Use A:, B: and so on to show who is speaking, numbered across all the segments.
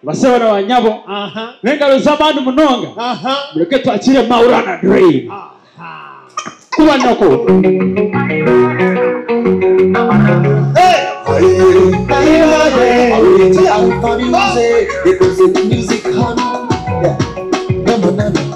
A: basebo na banyabo naye nga beza bantu munonga muleke twakire maurana dream kuba noko
B: Hey!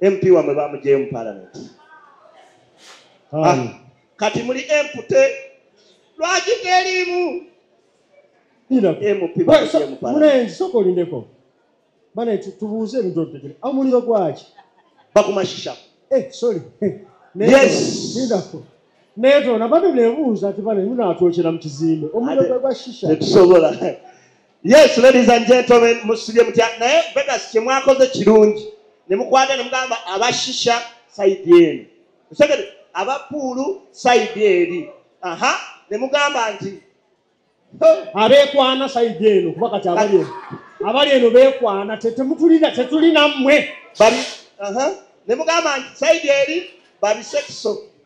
C: mp wamwe bamugyeyo mu palamenti ah, kati muli empute lwaki teriimu mp olindeko bane tubuuze ebintu otegere omuliro gwaki bakumashisha eh, sorry naye tona bane nebuuza ti bane munatwokera mu kizimbe omuliro gwegwa shisha tetusobola yes ladies and gentlemen musibye mutya naye vegas kyemwakoze kirungi nemukwata nemugamba abashisha saidi eno osegede abapuulu saidi eri aha nemugamba nti abekwana saidi eno kuba kati abali eno abali eno bekwana tetemutulina tetulina mmwe nemugamba nti saidi eri babisekiso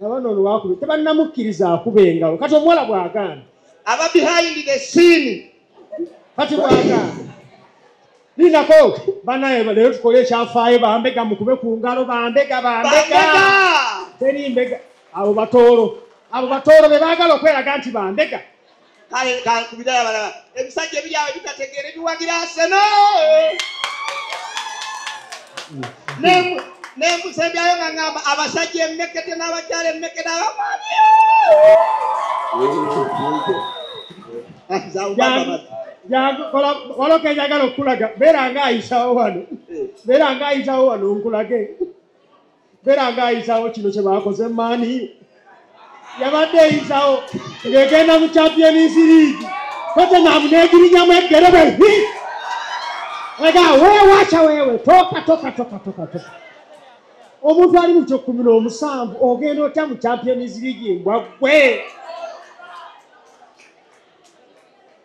C: nabano olwakube tebannamukkiriza akuba engalo kati omuwala bw'agamba aba behind the scene kati bw'agamba linako banaye leero tukole ekyafaayo bambega mukube ku ngalo bambega bambega teri mbega abo batoolo abo batoolo be baagala okweraga nti bambega kale kankubira abalala ebisajja ebiri awo ebitategeera ebiwagira aseno nemusembyayo nga ngamba abasajja emekete n'abakyala emekete abamaani waliwo kenjagala okukulaga beera nga ayisawo wano beera nga ayisawo wano nkulage Beera nga ayisawo kino kye baakoze maani yabadde eyisawo ng'egenda mu champions league totenamu n'egirinyamu eggere bwe hi ega weewakya weewe toka toka toka toka toka omuntu ali mu kyekkumi n'omusanvu ogenda otya mu champions league mbwa ggwe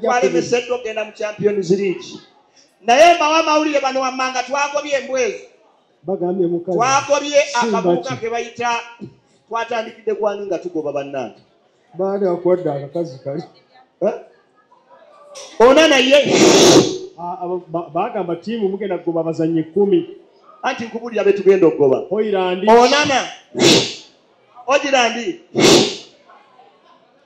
B: twalemeseddwa okugenda mu champions league naye mbawa amawulire bano wammanga twagobye embwezo
C: twagobye akabuuka
B: ke bayita twatandikidde kwani nga tugoba bannange baani akwadde
C: akakazi kali eh?
B: ona naye ah, ah,
C: bagamba tiimu mugenda kugoba abazannyi kumi anti nkubulira
B: betugenda okugoba onana ogirandi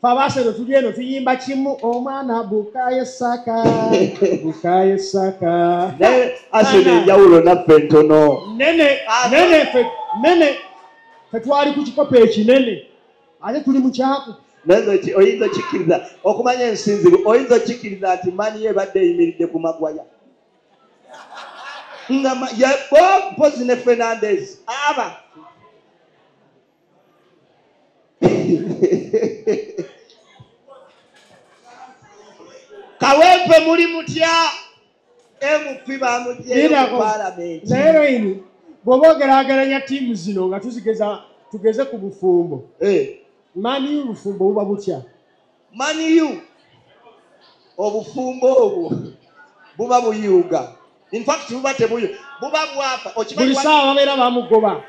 C: fe abaasero tuli eno tuyimba kimu omwana bukaye saka bukaye saka
B: naye asero enjawulo naffe ntono nene nene fe
C: nene fe twali ku kikopo ekinene ate tuli mu kyaku oyinza
B: okikkiriza okumanya ensinzibu oyinza okikkiriza nti mani ye ebadde eyimiridde ku magwaya nga mpozi ne fernandez aba kawempe muli mutya mp bamugyeyomupalamenti naye lweyini
C: bwoba ogerageranya tiimu zino nga tuzigeza tugeze ku bufumbo eh. maniu bufumbo buba butya maniu
B: obufumbo obwo buba buyuuga infact buba tebuyu buba bwapa buli saawa babeera
C: bamugoba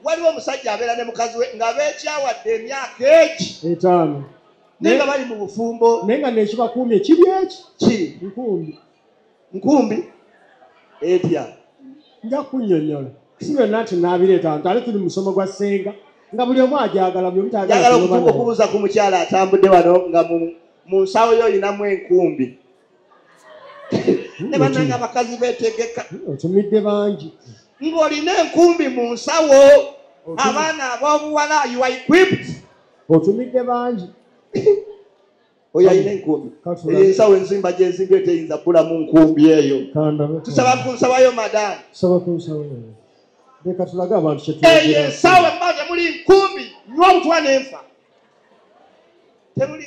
C: waliwo
B: omusajja abeera ne mukazi we nga beekyawadde emyaka egi etaano
C: naye nga bali mu
B: bufumbo naye nga nekibakuumye
C: kiri eki ki nkumbi
B: nkumbi etya nja
C: kunyonyola si byonna nti naabireeta nti ale tuli musomo gwa ssenga nga buli omu agyagala byomutagala okubuuza
B: ku mukyala atambudde wano nga mu nsawo yo olinamu enkumbi ne banange abakazi betegeka otumidde bangi
C: ng'olina
B: enkumbi mu nsawo abaana abobuwala you are equipped otumidde
C: bangi
B: oyo alina enkumbi eyo ensawo enzimba gyenzimbi eteyinza bbula mu nkumbi eyo tusaba ku nsawayo madamu eyo ensawo
C: emba temuli
B: nkumbi nywa obutwa nenfa temuli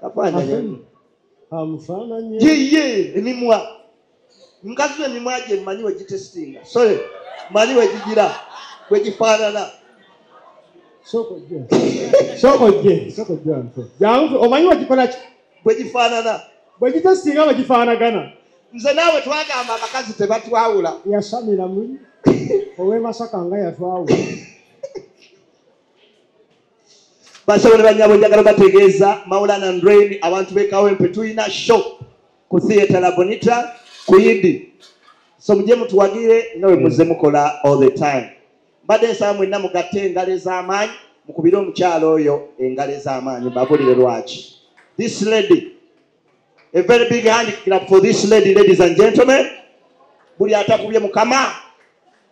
B: kafaananyi amufaananye yiye emimwa mukazi we emimwa gye mmanyi we gitesitinga sole mmanyi we gigira we gifaanana
C: omanyi wegikolaki bwe gifaanana
B: bwe gitesitinga
C: bwe gifaanagana nze naawe
B: twagamba abakazi tebatwawula yasamira muli
C: owemasaka nga yatwawula
B: Basabo ne bannyabo njagala bategeeza Maulana Ndrain abantu b'e Kawempe tulina show ku theatre La Bonita ku Yidi. So mujje mutuwagire nga bwe muzze mukola all the time. Mbadde nsaba mwenna mugatte engalo ez'amaanyi mukubire omukyala oyo engalo ez'amaanyi mbabulire lwaki. This lady a very big hand clap for this lady ladies and gentlemen. Buli atakubye mukama.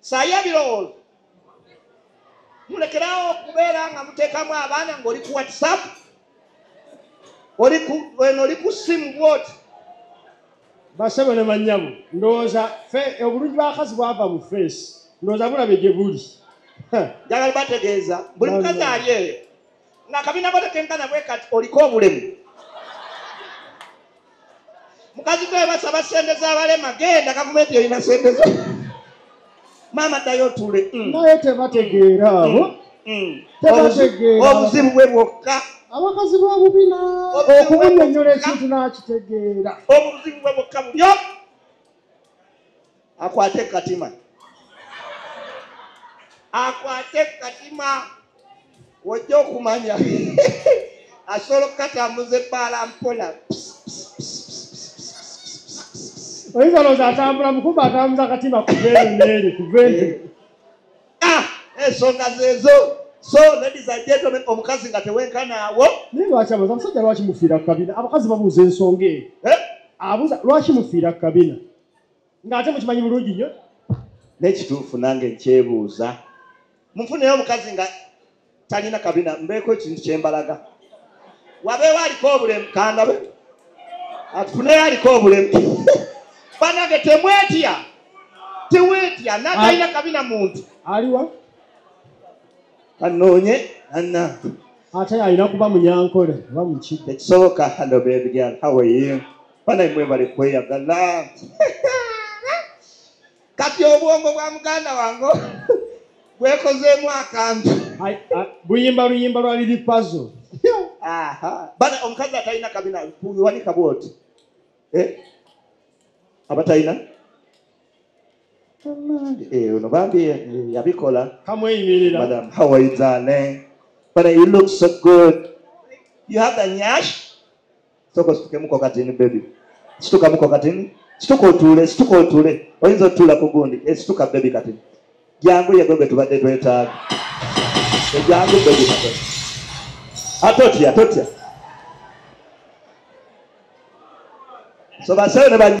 B: saayo ebirowoozo mulekerawo okubeera nga muteekamu abaana ngaoli ku whatsapp eno oli ku simu bwoti
C: basebo ne banyabo ndowooza obulungi bwakazi bwava mu feesi ndowooza bulabe gye buli njagala
B: bategeeza buli mukazi ali eyo nga akabina bwe tekenkana bwe kati oliko obulemu mukazi gwe basaba sente z'abalema genda gavumenti erina sente zo maama ddayo otuule mm. naye tebategeera
C: abo mm. mm. obuzibu bwe
B: bwokka abakazi b'obubina
C: okumunyonyola ekintu n'akitegeera obuzibu bwe bwokka
B: bulyo akwate katima akwate katima wojja okumanya asobola okukatambuza ebbaala mpola
C: oyinza olowooza atambula mukumba atambuza akatima kuva eno neeri kuva eno eh. ah, ensonga
B: zeezo so ladies and gentlemen omukazi nga tewenkanaawo naye lwaki abuuza
C: musajja lwaki mufiira ku kabina abakazi babuuza ensonga eyo eh? abuuza lwaki mufiira ku kabina ng'ate mukimanyi bulungi nnyo n'ekituufu
B: nange nkyebuuza munfuneyo omukazi nga talina kabina mbeeko ekintu kyembalaga wabeewo aliko obulemu kandabe atufuneyo aliko obulemu banange temwetya tewetya natalina kabina muntu aliwa kanoonye anna ate alina
C: kuba munyankole oba muki ekisoboka halo
B: bebigal how are you banaye mwebale kweyagala kati obwongo bwa muganda wange bwekozeemu akantu buyimba
C: luyimba lwali lipazo
B: bana omukazi atalina kabina wanika bwoti eh? abatalina eh, ono bambi eh, yabikola kamweyimirira
C: madam how are you
B: darling but you look so good you have the nyash soka ositukemuko katini bebi situkamuko katini situka otuule situka otuule oyinza otuula ku gundi esituka eh, bebi katini jangu yego gwe tubadde twetaaga ejangu eh, bebi katini atotya ah, totya so basawo ne